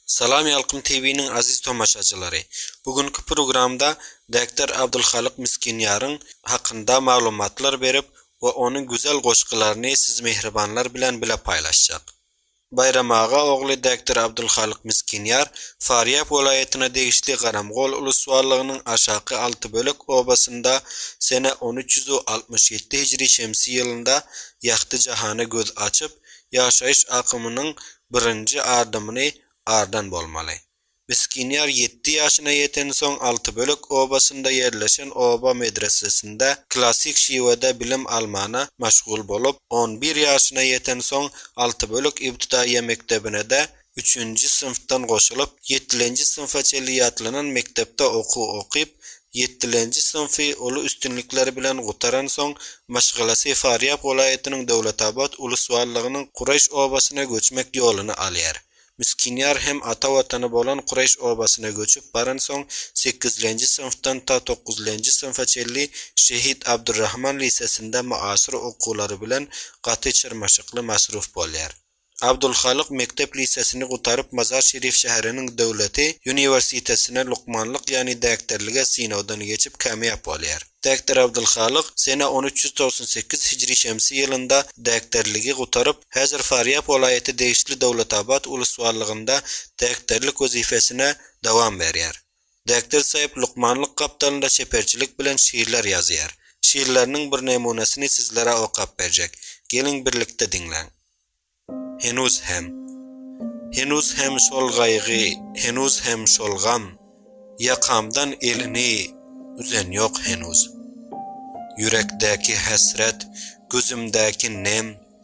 Salam Ýalkym TV-niň aziz tomaşaçylary! Bu günki programda Bekdar Abdulhalyk Miskinýaryň hakynda maglumatlar berip we onuň güzel goşgularyny siz mähribanlar bilen bile paýlaşjak. Baýram aga ogly Bekdar Abdulhalyk Miskinýar Farýap welaýatyna degişli Garamgol ulusbarlygynyň Aşaky Altybölek obasynda sene on üç ýüz altmyş ýedi hijri şemsi ýylynda ýagty jahana göz açyp, ýaşaýyş akymynyň Birinji adymyny ardan bolmaly. Miskinýar ýetti ýaşyna ýetensoň Altybölek obasynda ýerleşen oba medresesinde klassyk şiwede bilim almana maşgul bolup, on bir ýaşyna ýetensoň Altybölek ibtidaýýa mekdebine-de üçünji synpdan goşulyp, ýetilenji synpa çenli ýatlanan mekdepde okuw okyp, Ýetdilenji synfy uly üstünlikler bilen gutaransoň, maşgalasy Farýap welaýatynyň Döwletabat ulus-wallagynyň Kureş obasyna göçmek ýoluny alýar. Miskinýar hem ata watany bolan Kureş obasyna göçüp baransoň, sekizlenji synfdan ta dokuzlenji synfa çenli Şehit Abdurrahman lisesinde myasyr okuwlary bilen gaty çyrmaşykly masruf bolýar. Abdulhalyk mekdep lisesini gutaryp Mazar Şerif şäheriniň döwleti uniwersitetine lukmanlyk ýagny däkterlige synagdan geçip kämiýap bolýar. Däkter Abdulhalyk sene on üç ýüz togsan sekiz hijri şemsi ýylynda däkterligi gutaryp häzir Farýap welaýaty degişli Döwletabat ulus ballygynda däkterlik wezipesine dowam berýär. Däkdir Saýyp lukmanlyk gapdalynda çeperçilik bilen şyglar ýazýar. Şyglarynyň bir nemunasyny sizlere okap berjek. Geliň birlikde diňläň. Henuz hem. Henuz hem şol gaýgy, henuz hem şol gam, Ýakamdan elini üzen ýok henuz. Ýürekdäki hesret, gözümdäki nem,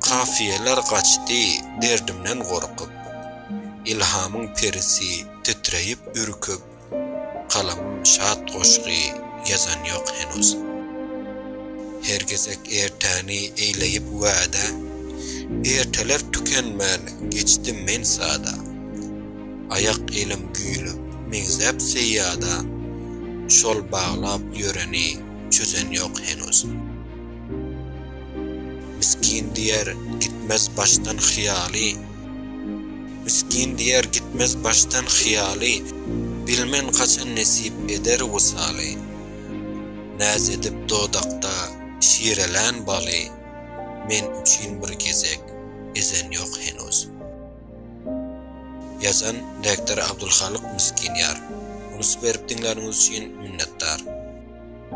Kafiýeler gaçdy derdimden gorkup, Ilhamyň perisi titreýip, ürküp, Kalamym şat goşgy ýazan ýok henuz. Her gezek ertäni eýleýip wädä, Erteler tükenmän geçdim men sada. Aýak elim güýlüp, meňzäp seýýada, Şol baglap ýöreni çözen ýok henuz. Miskin diýer, gitmez başdan hyýaly. Miskin diýer, gitmez başdan hyýaly, Bilmen haçan nesip eder wysaly. Näz edip dodakda şirelän baly, Men üçin bir gezek ezen ýok henuz. Ýazan, Rektor Abdulhalyk Miskin ýar. Unusyp berip diňläniňiz üçin minnetdar.